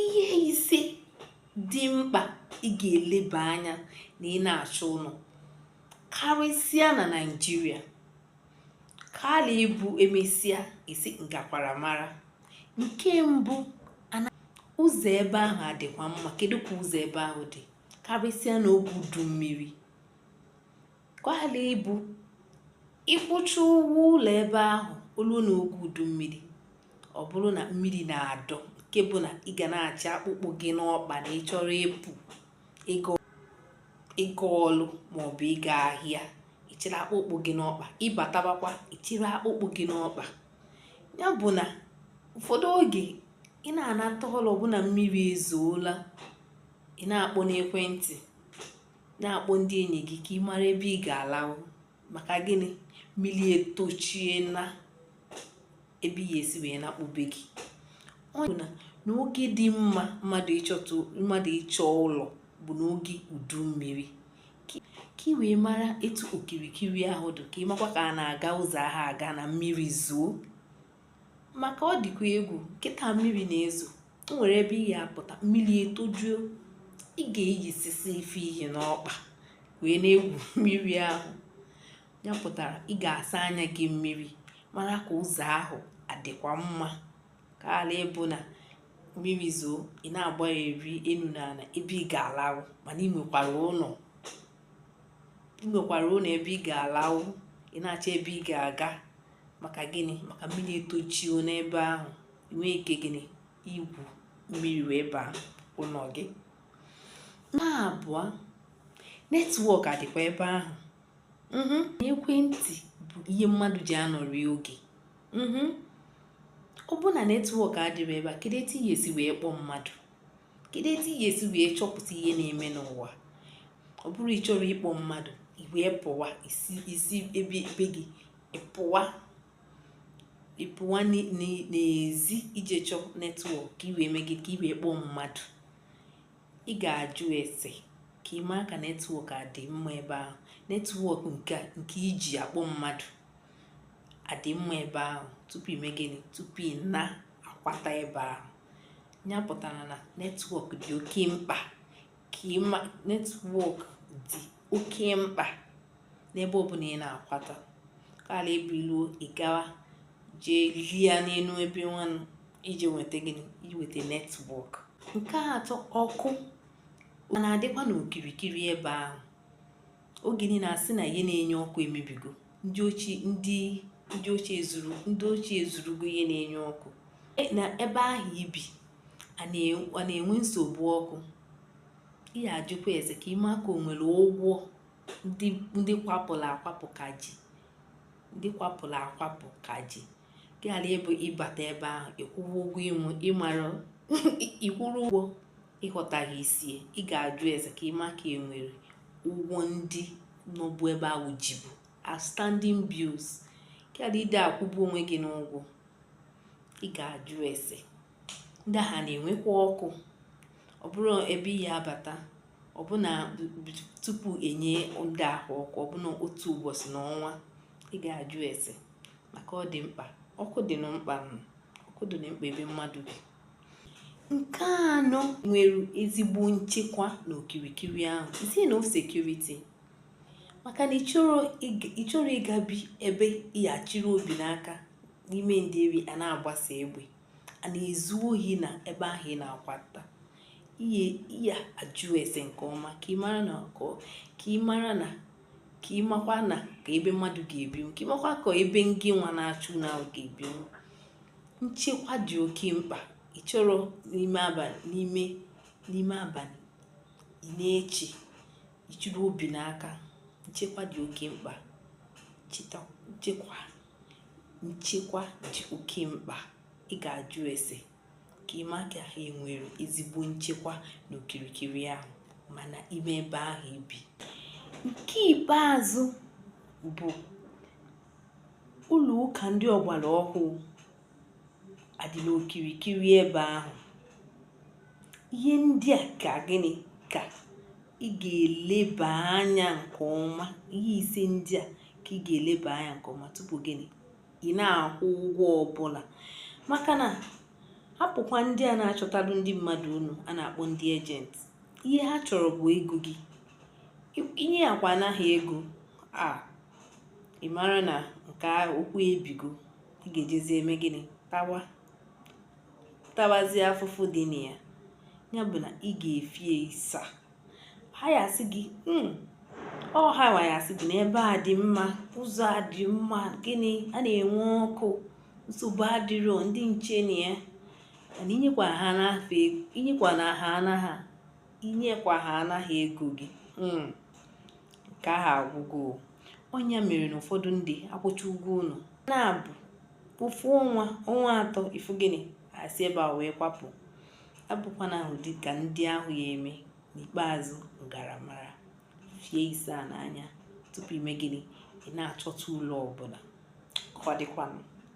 ihe ise dị mkpa ị ga-eleba anya na ị na-achọ ụlọ karịsịa na naijiria ka ala ịbụ emesịa ị sị ngakwara mara nke mbụ ụzọ ebe ahụ adịkwa mma kedu ka ụzọ ebe ahụ dị karịsịa n'oge udu mmiri ka ala ịbụ ị kwụcha ụgwọ ụlọ ebe ahụ o luo na oge udu mmiri ọ bụrụ na mmiri na-adọ nke bụ na ị ga na-achị akpụkpọ gị n'ọkpa na ị chọrọ ịpụ ịga ọlụ maọbụ ịga ahịa ị chịrị akpụkpọ gị n'ọkpa ị batabakwa ị chịrị akpụkpọ gị n'ọkpa ya bụ na ụfọdụ oge ị na-anata ọlụ ọ bụrụ na mmiri ezoola ị na-akpọ n'ekwentị na-akpọ ndị enyi gị ka ị mara ebe ị ga-alahụ maka gịnị mmiri etochie na ebe ị ya-esi wee nakpu be gị ọ bụ na n'oge dị mma mmadụ ịchọta mmadụ ịchọ ụlọ bụ n'oge udu mmiri ka ị wee mara etu okirikiri ahụ dị ka ị makwa ka a na-aga ụzọ ahụ aga na mmiri zoo maka ọ dịkwa egwu kịta mmiri na-ezo o nwere ebe ị ga-apụta mmiri etojuo ị ga-eyisisi ife ihe n'ọkpa wee na-egwu mmiri ahụ ya pụtara ị ga-asa anya gị mmiri mara ka ụzọ ahụ adịkwa mma ka ala ịbụ na mmiri zoo ị na-agbagharị enu na ala ebe ị ga-alahụ mana ị nwekwara ụlọ ị nwekwara ụlọ ebe ị ga-alahụ ị na-achọ ebe ị ga-aga maka gịnị maka mmiri etojuo n'ebe ahụ i nwee ike gịnị igwu mmiri wee baa ụlọ gị nke abụọ netwọk adịkwa ebe ahụ mhm. ekwentị bụ ihe mmadụ ji anọrị oge mhm. ọ bụ na netwọk adịrọ ebe a kedu etu ị ya-esi wee kpọọ mmadụ kedu etu ị ya-esi wee chọpụta ihe na-eme n'ụwa ọ bụrụ ị chọrọ ịkpọ mmadụ i wee pụwa i si be gị ị pụwa ị pụwa n'ezi i jee chọọ netwọk ka i wee mee gịnị ka i wee kpọọ mmadụ ị ga-ajụ ese ka ị maa ka netwọk adị mma ebe ahụ netwọk nke nke iji akpọ mmadụ adị mma ebe ahụ tupu i mee gịnị tupu ị na-akwata ebe ahụ ya pụtara na netwọk dị oke mkpa ka ịma netwọk dị oke mkpa n'ebe ọbụla ị na-akwata ka ala ịbụ i luo ị gawa jee lịa n'elu ebe nwanụ iji nweta gịnị inweta netwọk nke atọ ọkụ ọ na-adịkwa n'okirikiri ebe ahụ oge niile a sị na ihe na-enye ọkụ emebigo ndị oshi ndị ndị oshi ezuru ndị oshi ezurugo ihe na-enye ọkụ e, na ebe ahụ i bi a na-enwe nsogbu ọkụ ị ya-ajụkwa ese ka ị maa ka o nwere ụgwọ ndị kwapụrụ akwapụ ka ji ndị kwapụrụ akwapụ ka ji gị ghara ịbụ ị bata ebe ahụ ị kwụwa ụgwọ ịmụ ịmara ị kwụrụ ụgwọ ị ghọtaghị isi ya ị ga-ajụ ese ka ị ma ka e nwere ụgwọ ndị nọbụ ebe ahụ jibu outstanding bills ghara ịda akwụgbu onwe gị n'ụgwọ ị ga-ajụ ese ndị ahụ na-enwekwa ọkụ ọ bụrụ ebe ị ya-abata ọ bụ na tupu e nye ndị ahụ ọkụ ọ bụ na otu ụbọchị na ọnwa ị ga-ajụ ese maka ọ dị mkpa ọkụ dị na mkpa ọkụ dị na mkpa ebe mmadụ bi nke anọ nwere ezigbo nchekwa n'okirikiri ahụ isi na security maka na ị chọrọ ịga bi ebe ị ya-achịrị obi n'aka n'ime ndeeri a na-agbasa egbe a na-ezu ohi na ebe ahụ ị na-akwa ụta ị ya-ajụ ese nke ọma ka ị mara na ka ị mara na ka ị makwa na ka ebe mmadụ ga-ebinwu ka ị makwa ka ebe ngị nwa na-achọ ụnọ ga-ebinwu nchekwa dị oke mkpa ị chọrọ n'ime abalị n'ime n'ime abalị ị na-eche ị chịrị obi n'aka nchekwa dị oke mkpa nchekwa nchekwa dị oke mkpa ị ga-ajụ ese ka ị ma ka ha enwere ezigbo nchekwa n'okirikiri ahụ ma na ime ebe ahụ i bi nke ikpeazụ bụ ụlọ ụka ndị ọgbara ọhụụ a dị n'okirikiri ebe ahụ ihe ndị a ka gịnị ka ị ga-eleba anya nke ọma ihe ise ndị a ka ị ga-eleba anya nke ọma tupu gịnị ị na-akwụ ụgwọ ọbụla maka na hapụkwa ndị a na-achọtalụ ndị mmadụ ụnọ a na-akpọ ndị agent ihe ha chọrọ bụ ego gị i nyekwa ha nara ego a ị mara na nke okwu ebigo ị ga-ejezi eme gịnị tawa tawazie afụfụ dị na ya ya bụ na ị ga-efie isa ha ya-asị gị hmm, ọ ha nwa ya-asị gị na ebe a dị mma ụzọ a dị mma gịnị a na-enwe ọkụ nsogbu adịrọ ndị nche na ya mana i nyekwa ha n'afọ i nyekwa na ha nara i nyekwa ha nara ego gị hmm, nke ahụ agwụgo ọ nya mere na ụfọdụ ndị akwụcha ụgwọ ụlọ na-abụ ofu ọnwa ọnwa atọ ị fụ gịnị e si ebe a wee kwapụ abụkwana ahụ dị ka ndị ahụ ya eme n'ikpeazụ m gara mara fie isaa n'anya tupu ime gịnị ị na-achọta ụlọ ọbụla ka ọ dịkwanụ